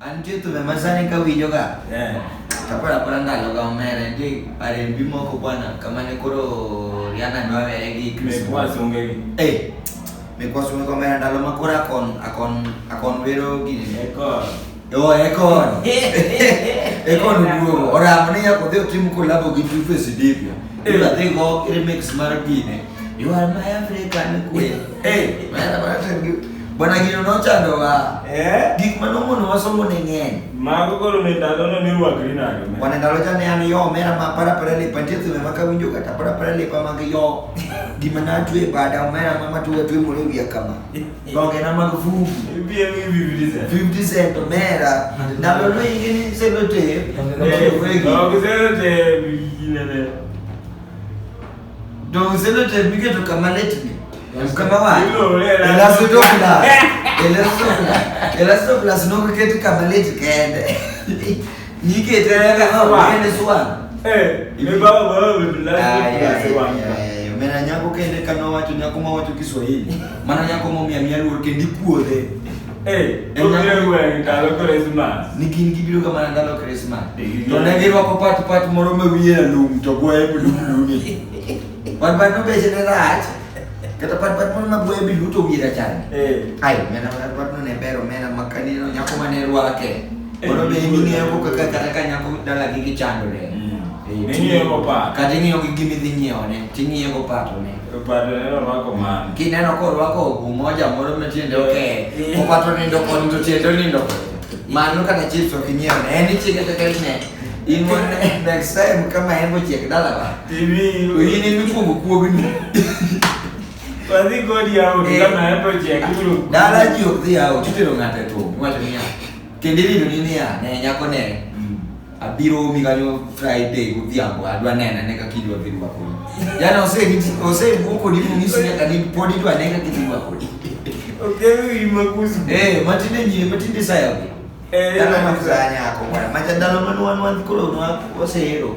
Antie tu me masani ka winjo ka. Eh. Tapara para ndalo ga omere ndi pare mbi moko bwana kama ne koro Rihanna ndo awere gi Chris Paul. Eh. Me kwa sunge kwa mera ndalo makora akon akon akon wero gini. Eko. Yo eko. Eko ndugu. Ora amani ya kodhi timu kolabo gi Two Face Dipya. Eh. Ila tengo remix mara gini. You are my African queen. Eh. Mara mara tengo. Bwana gino nochando wa. Eh? Gik ma nomono wasomo ne ng'eny. Mago koro ne ndalo no ni rwakri nade. Bwana ndalo cha ne an yo mera ma para para le pantie tume ma kawinjo kata para para le pa mag yo. Gima na tue bada omera ma matue tue moro wiya kama. Donge na mag fufu. Ibiye mi bibidi sen. Bibidi sen to mera. Ndalo no inge ni se no te. Donge se no te bibidi ne. Ndio useme tepike tu kama letni. Kama wapi? Elasto to plus. Elasto plus. Elasto plus no kuketi kama letni kende. Yike tena kama kende suwa. Eh, ni baba baba bila. Ah, yeah, yeah, yeah mena nyako kende kano wacho nyako ma wacho Kiswahili mana nyako momia mia luor kendo ipuodhe Eh, to biro gweng' ndalo Krismas. Ni gin gibiroga mana ndalo Krismas. Eh, to ne girwako pat pat moro ma wiye alum to gwaye bilumlumi. Pat pat nobeche ne rach. Kata pat pat moro ma gwaye bilu to wiye rachar. Eh. Ai, mena pat pat no ne bero mena makani no nyako ma ne rwake. Eh, moro be ing'eyo ko kaka kata ka nyako dala gi gichandore. Mm. Eh, ing'eyo ko pat. Kata ing'eyo gi gimidhi nyiewo ne. Ting'iyo ko pat ne. Opato neno orwako mano. Kineno korwako ogu moja moro ma tiende oke, opato nindo koni to tiende onindo koni. Mano kata chips ok inyiew ne, en ichieke to kel ne. In mon next time kama en bochiek dala ba. TV. To in emi kuogo kuogni. Wadhi kodi yawo Eh. kama en to chiek kuro. Dala ji ok dhi yawo, titero ng'ato e thum, iwacho niya. Kendo irino ni niya, ne nyako ne. abiro omi kanyo Friday godhiambo adwa nena ne kaka idwa dhi rwako yani osewuo kodi monyisi nyaka ni pod idwa ne kaka idhi rwako eh, matinde nyie matinde sayago eh, dhano mafuzanyako mwana macha dhano manwanwanthi koro wasehero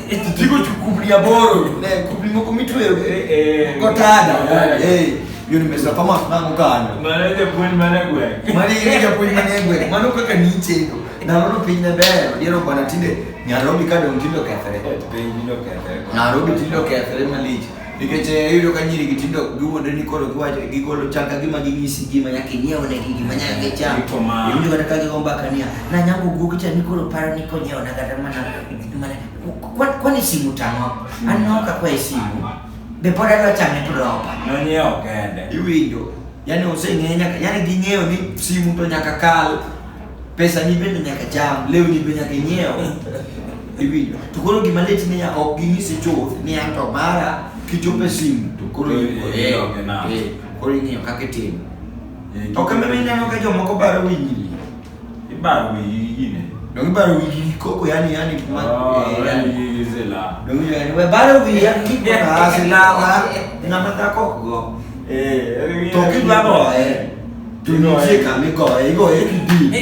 Digo tu kublia boro, ne kublia moko mitwero go tada. Eh, yo ni mesa kama nango kana. Mara ile point mara gwe. Mara ile point mara gwe. Mano kaka ni chendo. Na rono piny na ber, diero bana tinde Nairobi ka dong tinde okethre. Nairobi tinde okethre malich. Nikech eh, iyudo ka nyiri gitindo giwuondre ni koro giwacho gigolo chal ka gima ginyisi gima nyaka inyiew ne gi gima nyaka gicham. Iyudo kata ka gigo mbaka niya, na nyango guogi cha ni koro paro ni konyiew na kata mana mana kwani simu tang'o. Mm. An naoka kwa simu. Be pod adwa chame to ropa. Nonyiew kende. Iwinjo. Yaani oseng'eyo nyaka yaani ging'eyo ni simu to nyaka kal. pesa ni bende nyaka cham lewni be nyaka inyiew iwinjo to koro gima lit niya ok ginyisi chuth ni an to mara kichopo e simu to koro Koro iwinjo, eh, ilog e nam. eh, koro ing'iyo kaka itimo Eh, ok meme ineno ka jomoko baro winyini Ibaro wiyi yine. dong ibaro wiyi koko yani yani ma- Oh, eh, yani. wiyi zila. Dong yani we baro wiyi yani kikona asilala ng'ama dhako go Eh, to kidwaro eh To nitie kama igoye, igoye kidi.